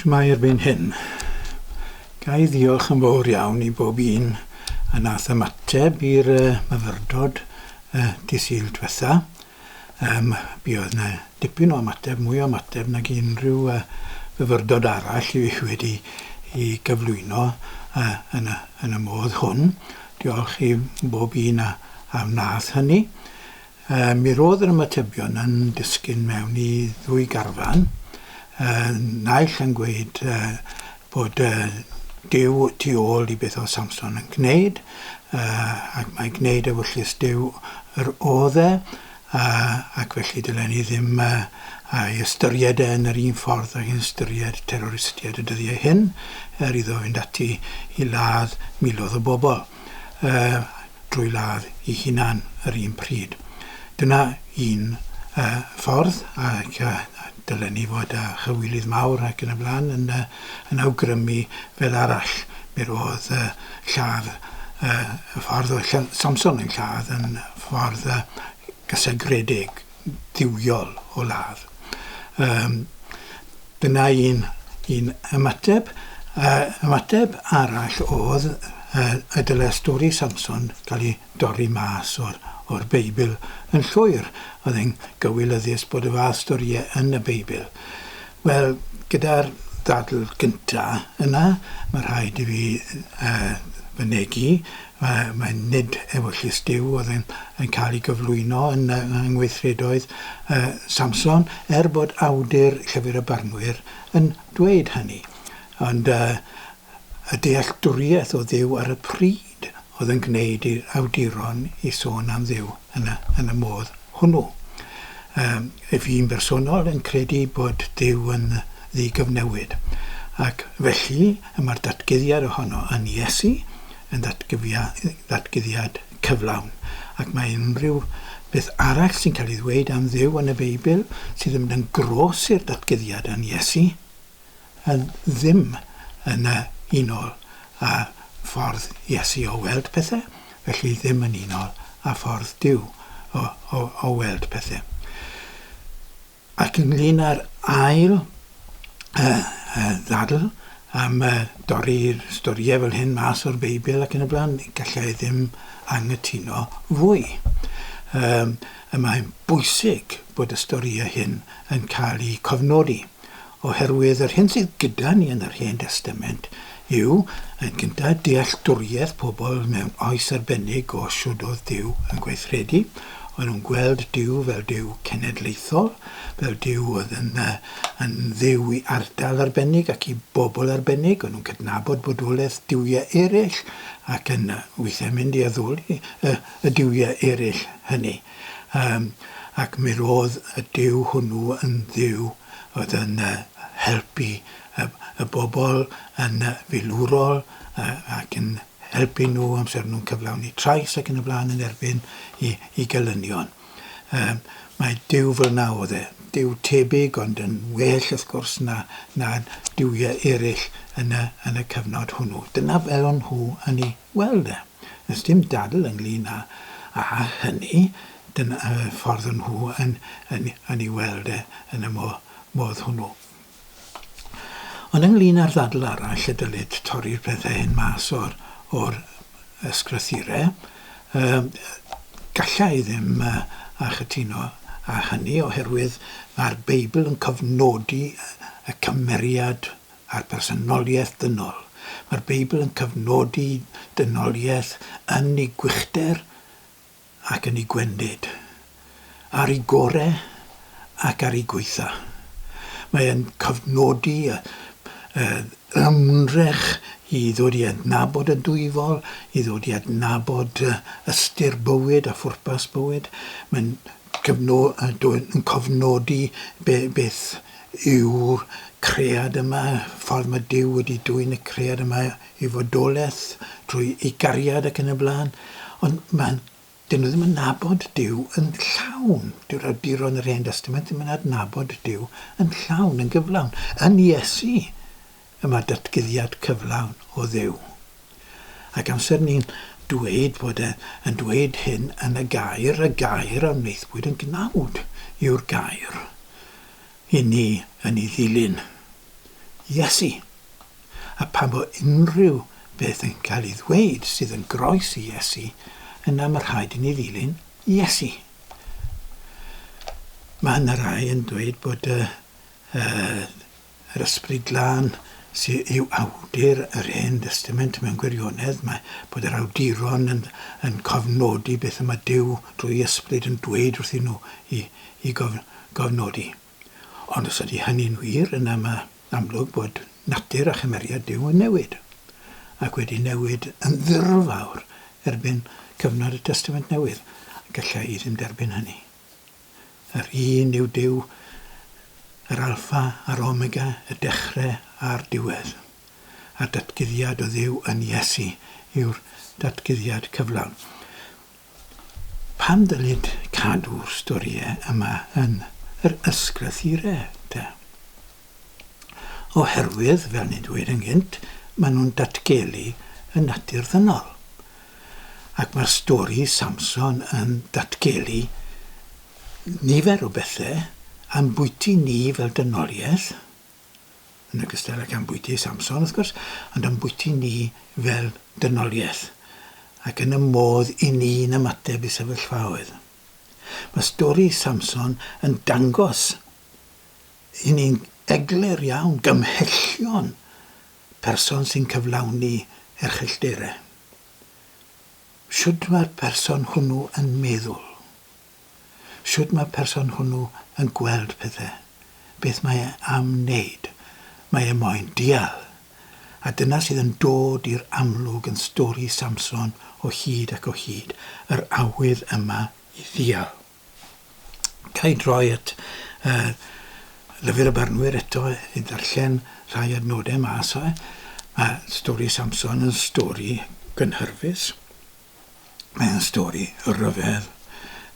Shwmae erbyn hyn. Ga i ddiolch yn fawr iawn i bob un a nath ymateb i'r uh, myfyrdod uh, dy Sul dwetha. Um, mi oedd na dipyn o ymateb, mwy o ymateb nag unrhyw uh, fyfyrdod arall i fi wedi i gyflwyno uh, yn, y, yn y modd hwn. Diolch i bob un a, a wnaeth hynny. Yy, mi ro'dd yr ymatebion yn disgyn mewn i ddwy garfan, yy, naill yn gweud, yy, bod, yy, Duw tu ôl i beth o'dd Samson yn gneud, yy, ac mai gneud ewyllys Duw yr o'dd e, yy, ac felly dylen ni ddim, yy, a'i ystyried e yn yr un ffordd ag yn ystyried terroristiaid y dyddiau hyn, er iddo fynd ati i ladd milodd o bobol. yy drwy ladd ei hunan yr un pryd. Dyna un yy ffordd ac yy dylen ni fod â chywilydd mawr ac yn y blaen yn yy yn awgrymu fel arall. Mi ro'dd yy lladd yy y ffordd oedd Samson yn lladd yn ffordd yy gysegredig. dduwiol o ladd. Um, dyna un, un ymateb. Uh, ymateb arall oedd uh, y dylai stori Samson gael ei dorri mas o'r, or Beibl yn llwyr. Oedd e'n gywilyddus bod y fath storïau yn y Beibl. Wel, gyda'r ddadl gynta' yna, ma' rhaid i fi yy fynegi, ma' mae nid ewyllys Duw oedd yn yn cael ei gyflwyno yn y yng ngweithredoedd yy Samson, er bod awdur Llyfr y Barnwyr yn dweud hynny. Ond yy Y dealltwriaeth o Dduw ar y pryd oedd yn gwneud i'r awduron i sôn am Dduw yn y, yn y modd hwnnw. Yym, fi'n bersonol yn credu bod Duw yn ddigyfnewid. Ac felly, y mae'r datguddiad ohono yn Iesu yn ddatgyfia- ddatguddiad cyflawn. Ac mae unrhyw beth arall sy'n cael ei ddweud am Dduw yn y Beibl sydd yn mynd yn gros i'r datguddiad yn Iesu, Yn ddim yn y unol â ffordd Iesu o weld pethe, felly ddim yn unol â ffordd Duw o o o weld pethe. Ac ynglŷn â'r ail yy yy ddadl am yy dorri'r storie fel hyn mas o'r Beibl ac yn y bla'n, galla i ddim anghytuno fwy. Yym y mae'n bwysig bod y storie hyn yn ca'l 'u cofnodi, Oherwydd yr hyn sydd gyda ni yn yr Hen Destament yw, yn gyntaf, dealltwriaeth pobl mewn oes arbennig o shwd oedd Duw yn gweithredu. O'n nhw'n gweld Duw fel Duw cenedlaethol, fel Duw oedd yn yn Dduw i ardal arbennig ac i bobl arbennig. O'n nhw'n cydnabod bodolaeth duwiau eraill ac yn weithiau mynd i addoli y y duwiau eraill hynny. Yym, ac mi ro'dd y Duw hwnnw yn Dduw oedd yn helpu y y bobl yn filwrol yy ac yn helpu nhw amser o'n nhw'n cyflawni trais ac yn y blaen yn erbyn 'i 'i gelynion. Yym, mae Duw fel 'na o'dd e. Duw tebyg ond yn well wrth gwrs na na duwie eryll yn y yn y cyfnod hwnnw. Dyna fel o'n nhw yn 'i Wel de, does dim dadl ynglŷn â hynny, dyna'r ffordd o'n nhw yn ei weld e yn y modd hwnnw. Ond ynglŷn â'r ddadl arall y dylid torri'r pethau hyn mas o'r ysgrythurau, galla i ddim cytuno â hynny oherwydd mae'r Beibl yn cofnodi y cymeriad a'r personoliaeth ddynol. Mae'r Beibl yn cyfnodi dynoliaeth yn ei gwychder ac yn ei gwendid, ar ei gore ac ar ei gwaetha. Mae e'n cofnodi y y ymdrech i ddod i adnabod y Dwyfol, i ddod i adnabod ystyr bywyd a phwrpas bywyd. Mae'n cofnodi beth yw'r cread yma, y ffordd mae Duw wedi dwyn y cread yma i fodolaeth drwy'i gariad ac yn y blaen. Ond mae... 'dyn nhw ddim yn nabod Duw yn llawn. Dyw'r awduron yr Hen Destament ddim yn adnabod Duw yn llawn, yn gyflawn, yn Iesu. y mae datguddiad cyflawn o Dduw. Ac amser ni'n dweud bod e yn dweud hyn yn y gair, y gair a wnaethpwyd yn gnawd yw'r gair i ni yn ei ddilyn. Iesu! A phan fo unrhyw beth yn cael ei ddweud sydd yn groes i Iesu, yna mae rhaid i ni ddilyn Iesu. Mae yna rai yn dweud bod y, y Yr Ysbryd Glân sy yw awdur yr Hen Destament mewn gwirionedd, mae bod yr awduron yn yn cofnodi beth y mae Duw drwy Ysbryd yn dweud wrthyn nhw i i gof gofnodi. Ond os ydy hynny'n wir, yna mae amlwg bod natur a chymeriad Duw yn newid, ac wedi newid yn ddirfawr erbyn cyfnod y Testament Newydd, galla i ddim derbyn hynny. Yr un yw Duw, yr Alffa a'r Omega, y dechrau a'r diwedd. A'r datguddiad o Dduw yn Iesu yw'r datguddiad cyflawn. Pam ddylid cadw'r storïau yma yn yr ysgrythurau, te? Oherwydd, fel ni'n dweud yn gynt, maen nhw'n datgelu y natur ddynol. Ac mae'r stori Samson yn datgelu nifer o bethau a'n bwyty ni fel dynoliaeth, yn ogystal ac â'n bwyty Samson wrth gwrs, ond a'n bwyty ni fel dynoliaeth, ac yn y modd i ni'n ymateb i sefyllfaoedd. Mae stori Samson yn dangos i ni'n eglur iawn gymhellion Person sy'n cyflawni erchyllterau. Shwd mae'r person hwnnw yn meddwl? Shwd mae'r person hwnnw yn gweld pethau? Beth mae e am wneud? Mae e moyn deall. A dyna sydd yn dod i'r amlwg yn stori Samson o hyd ac o hyd, yr awydd yma i ddeall. Ga i droi at yy Llyfr y Barnwyr eto i ddarllen rhai adnodau mas o e. Mae stori Samson yn stori gynhyrfus. Mae'n stori rhyfedd.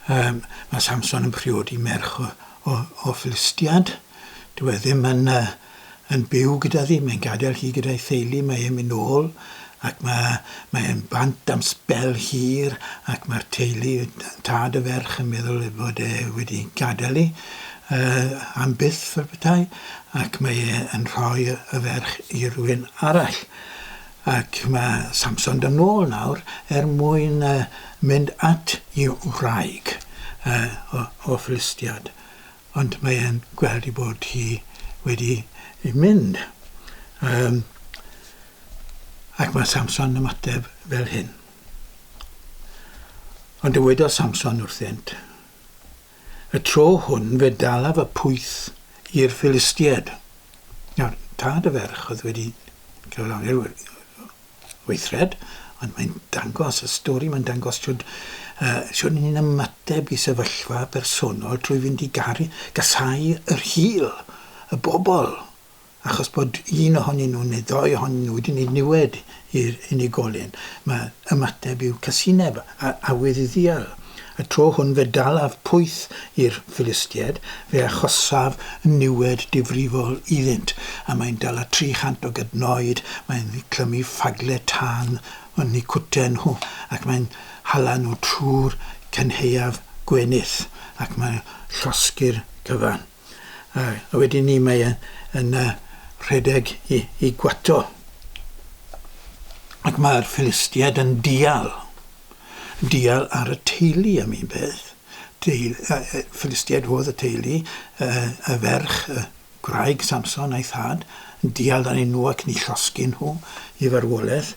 Yym mae Samson yn priodi merch o o o Philistiad. Dyw e ddim yn yy yn byw gyda fi, mae'n gadael hi gyda'i theulu, mae e'n myn' nôl ac ma' mae e'n bant am sbel hir ac ma'r teulu, tad y ferch yn meddwl ei fod e wedi gadel 'i yy am byth fel petai ac mae e yn rhoi y y ferch i rywun arall. Ac ma' Samson do' nôl nawr er mwyn yy mynd at 'i wraig yy o o Philistiad Ond mae e'n gweld ei bod hi wedi mynd. Yym, ac mae Samson yn ymateb fel hyn. Ond dywedodd Samson wrthynt, Y tro hwn fe dalaf y pwyth i'r Philistiaid. Nawr, tad y ferch oedd wedi cyflawni'r weithred, ond mae'n dangos y stori, mae'n dangos siwrd, uh, siwrd ni'n ymateb i sefyllfa bersonol trwy fynd i garu, gasau yr hil, y bobl, achos bod un ohonyn nhw neu ddoi ohonyn nhw wedi wneud niwed i'r unigolyn. Mae ymateb i'w casineb a awydd i ddial. Y tro hwn fe dalaf pwyth i'r Philistiaid, fe achosaf niwed difrifol iddynt, a mae'n dala tri chant o gadnoed, mae'n clymu ffagle tân yn eu cwten nhw, ac mae'n hala nhw trwy'r cynhaeaf gwenith, ac mae'n llosgi'r cyfan. a wedyn ni mae e yn yy rhedeg i i gwato. Ac mae'r Philistiaid yn dial. Dial ar y teulu am un peth. Teul- yy yy Philistiaid oedd y teulu, yy y ferch, y gwraig Samson a'i thad, yn dial arnyn nhw ac yn 'u llosgi nhw i farwolaeth.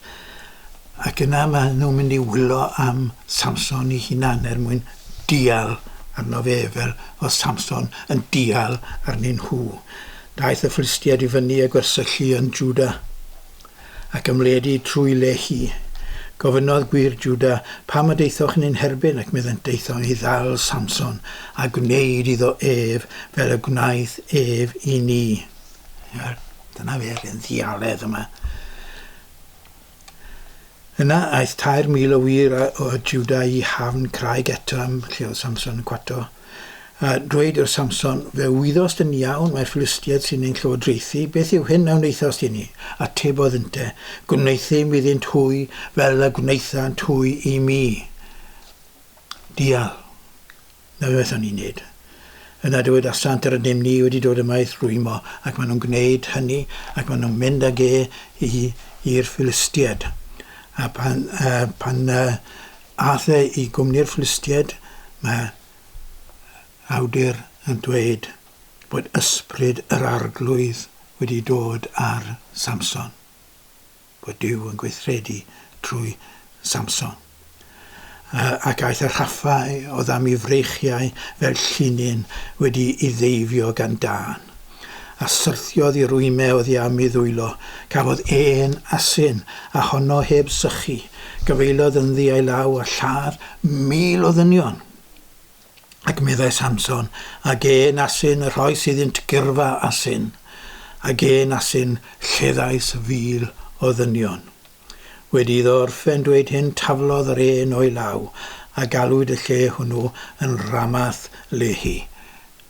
Ac yna maen nhw'n mynd i wylo am Samson ei hunan er mwyn dial arno fe, fel oedd Samson yn dial arnyn nhw. Daeth y Philistiaid i fyny a gwersyllu yn Jwda, ac ymledu trwy Lehi. Gofynnodd gwŷr Jwda, Pam y daethoch yn ein herbyn? Ac meddent, Daethom i ddal Samson, a gwneud iddo ef fel y gwnaeth ef i ni. Wel, dyna fe, yr hen ddialedd yma. Yna aeth tair mil o wir o Jwda i hafn craig Etam, lle oedd Samson yn cwato, a dweud wrth Samson, Fe wyddost yn iawn mai'r Philistiaid sy'n ein llywodraethu, beth yw hyn a wnaethost i ni? Atebodd ynte, Gwneuthum iddynt hwy fel y gwnaethant hwy i mi. Dial. Na beth o'n i'n neud. Yna dywedasant yr ydym ni wedi dod yma i'th rwymo, ac maen nhw'n gwneud hynny, ac maen nhw'n mynd ag e i, i'r Philistiaid. A pan, uh, pan uh, ath e i gwmni'r Philistiaid, mae awdur yn dweud bod ysbryd yr arglwydd wedi dod ar Samson. bod Duw yn gweithredu trwy Samson. Ac aeth y rhaffau oddam i freichiau fel llinyn wedi i ddeifio gan dân. A syrthiodd i rwyme oddi am i ddwylo, cafodd e'n asyn, a honno heb sychu, gyfeiliodd ynddi a'i law a lladd mil o ddynion. Ac meddai Samson, A gên asyn y rhoes iddynt gyrfa asyn, a gên asyn lleddais fil o ddynion. Wedi iddo orffen dweud hyn, taflodd yr ên o'i law, a galwyd y lle hwnnw yn Ramath Lehi,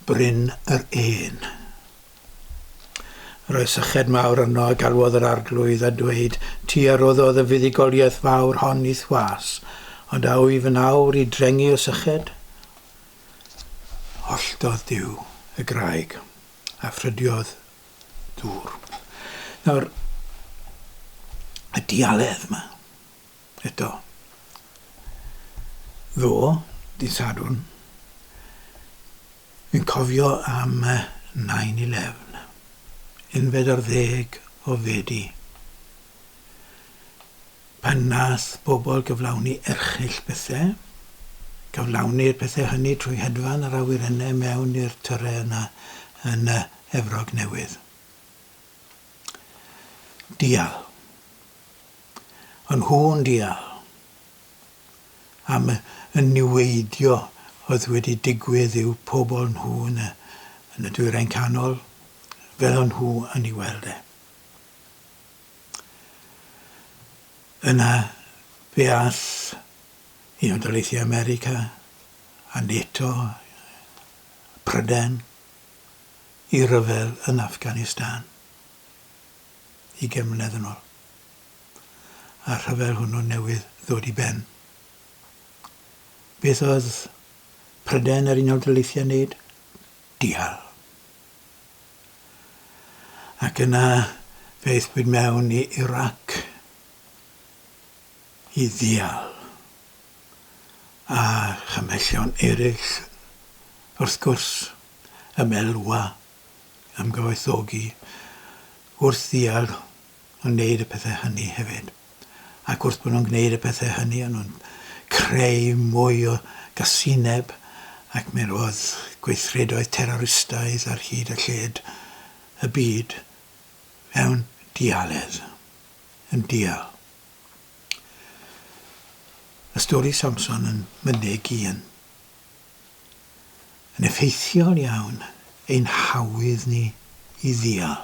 Bryn yr Ên. Roedd syched mawr yno a galwodd yr Arglwydd a dweud, Ti a roddodd y fuddugoliaeth fawr hon i'th was, ond a wyf yn awr i drengu o syched? Holltodd Duw y graig, a ffrydiodd ddŵr. Nawr, y dialedd yma. eto. Ddo, dydd Sadwrn, fi'n cofio am 9-11, unfed ar ddeg o Fedi, pan nath bobl gyflawni erchyll pethau, cyflawni'r pethau hynny trwy hedfan yr awyrennau mewn i'r tyrau yna yn y Efrog Newydd. Dial. A nhw'n deall am y niweidio oedd wedi digwydd i'w pobl nhw yn y Dwyrain Canol, fel o'n nhw yn ei weld e. Yna fe all Unol Daleithiau America a NATO, Prydain, i ryfel yn Afghanistan. ugain mlynedd yn ol. A'r rhyfel hwnnw newydd ddod i ben. Beth oedd Prydain a'r Unol Daleithiau wneud? Dial. Ac yna fe aethpwyd mewn i Irac i ddial. A chymhellion eraill, wrth gwrs, y melwa am gyfoethogi wrth ddial yn gwneud y pethau hynny hefyd. Ac wrth bod nhw'n gwneud y pethau hynny, o'n nhw'n creu mwy o gasineb ac mi roedd gweithredoedd teroristaidd ar hyd a lled y byd mewn dialedd, yn dial. Y stori Samson yn mynyg un. yn effeithiol iawn ein hawydd ni i ddial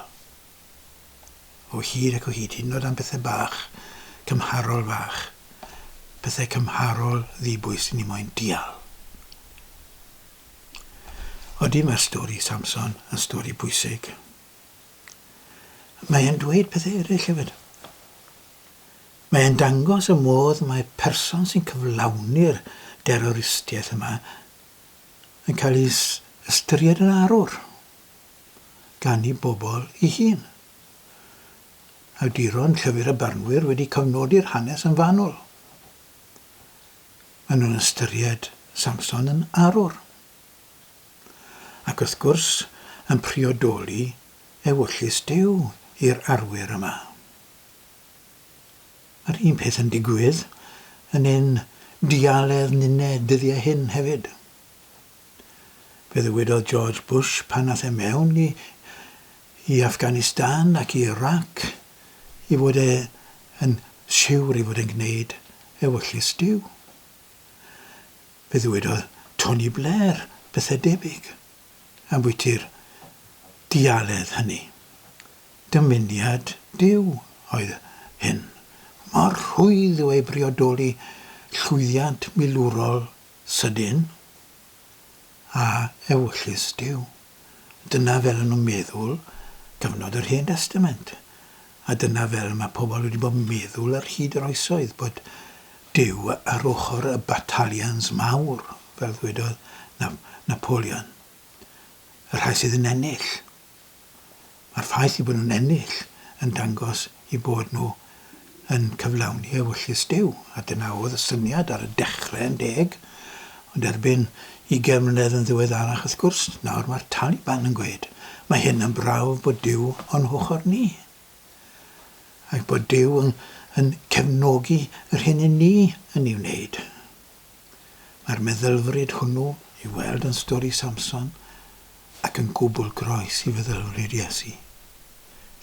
o hyd ac o hyd, hyd yn oed am bethau bach, cymharol fach, pethau cymharol ddibwys i ni moyn dial. Odi mae'r stori Samson yn stori bwysig. Mae'n dweud pethau eraill hefyd. Mae e'n dangos y modd mae person sy'n cyflawni'r deroristiaeth yma yn cael ei ystyried yn arwr gan ei bobl ei hun. Awduron llyfr a barnwyr wedi cofnodi'r hanes yn fanwl. Maen nhw'n ystyried Samson yn arwr. Ac wrth gwrs, yn priodoli ewyllys Duw i'r arwyr yma. Yr un peth yn digwydd yn ein dialedd nined dyddiau hyn hefyd. Fe ddywedodd George Bush pan ath e mewn i i Afghanistan ac i Irac ei fod e yn siwr ei fod e'n gwneud ewyllys Duw. Fe ddywedodd Tony Blair bethau debyg ambwyti'r dialedd hynny. Dymuniad Duw oedd hyn, mor rhwydd yw ei briodoli llwyddiant milwrol sydyn a ewyllys Duw. Dyna fel o'n nhw'n meddwl cyfnod yr Hen Destament, a dyna fel mae pobl wedi bod yn meddwl ar hyd yr oesoedd, bod Duw ar ochr y batalians mawr, fel ddwedodd Napoleon, y rhai sydd yn ennill. Mae'r ffaith eu bod nhw'n ennill yn dangos eu bod nhw yn cyflawni ewyllys Duw, a dyna oedd y syniad ar y dechrau yn deg, ond erbyn ugain mlynedd yn ddiweddarach wrth gwrs, nawr mae'r Taliban yn gweud, mae hyn yn brawf bod Duw o'n hochr ni, ac bod Duw yn cefnogi yr hyn i ni yn ei wneud. Mae'r meddylfryd hwnnw i'w weld yn stori Samson ac yn gwbl groes i feddylfryd Iesu,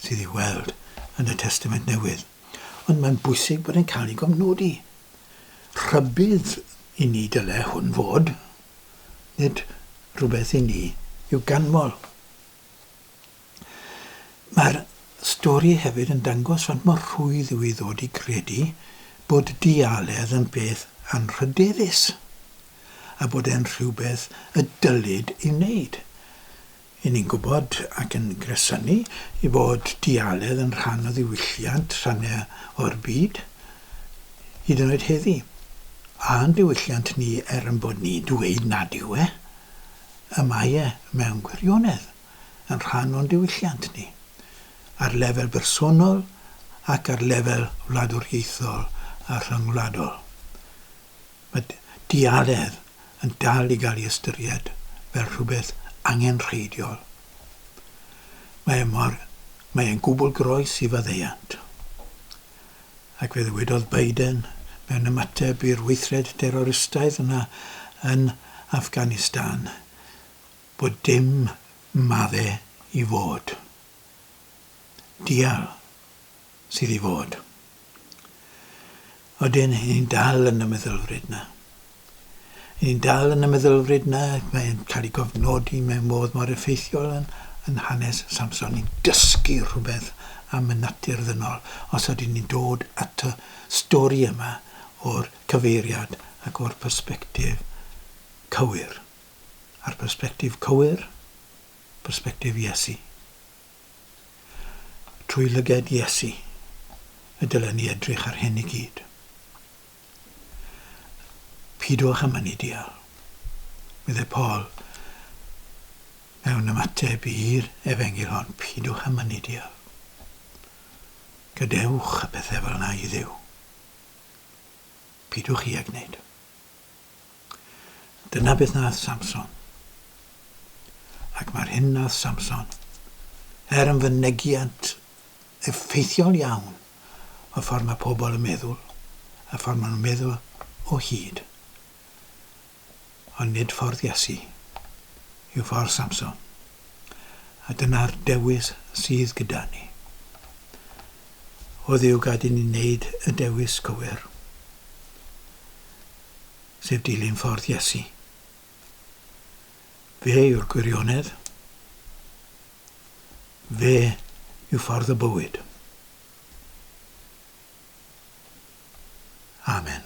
sydd i'w weld yn y Testament Newydd. Ond mae'n bwysig bod e'n cael ei gofnodi. Rhybudd i ni dyle hwn fod, nid rhywbeth i ni i'w ganmol. Mae'r stori hefyd yn dangos faint mor rhwydd yw i ddod i gredu bod dialedd yn beth anrhydeddus a bod e'n rhywbeth y dylid ei wneud. Y'n ni'n gwybod, ac yn gresynu, ei fod dialedd yn rhan o ddiwylliant rhannau o'r byd, hyd yn oed heddi. A'n diwylliant ni, er ein bod ni'n dweud nad yw e, y mae e mewn gwirionedd. yn rhan o'n diwylliant ni, ar lefel bersonol ac ar lefel wladwriaethol a rhyngwladol. Mae diaredd yn dal i gael ei ystyried fel rhywbeth angenrheidiol. Mae e mor, mae e'n gwbl groes i faddeuant. Ac fe ddywedodd Biden mewn ymateb i'r weithred teroristaidd yna yn Afghanistan, Bod dim madde i fod. Dial sydd i fod. Odyn, i ni'n dal yn y meddylfryd na. I ni'n dal yn y meddylfryd na, mae'n cael ei gofnodi mewn modd mor effeithiol yn, yn hanes Samson. Ni'n dysgu rhywbeth am y natur ddynol os ydyn ni'n dod at y stori yma o'r cyfeiriad ac o'r persbectif cywir. a'r persbectif cywir, persbectif Iesu. Trwy lyged Iesu y dylen ni edrych ar hyn i gyd. Pidwch â mynnu deall, meddai Paul mewn ymateb i'r efengyl hon, pidwch â mynnu deall. Gadewch y pethau fel yna i Dduw. Pidwch i ag wneud. Dyna beth nath Samson. Ac mae'r hyn nath Samson, er yn fynegiant effeithiol iawn y ffordd mae pobl yn meddwl, y ffordd maen nhw'n meddwl o hyd. Ond nid ffordd Iesu yw ffordd Samson. A dyna'r dewis sydd gyda ni. O Dduw gad i ni wneud y dewis cywir. sef dilyn ffordd Iesu. Fe yw'r gwirionedd. Fe yw ffordd y bywyd. Amen.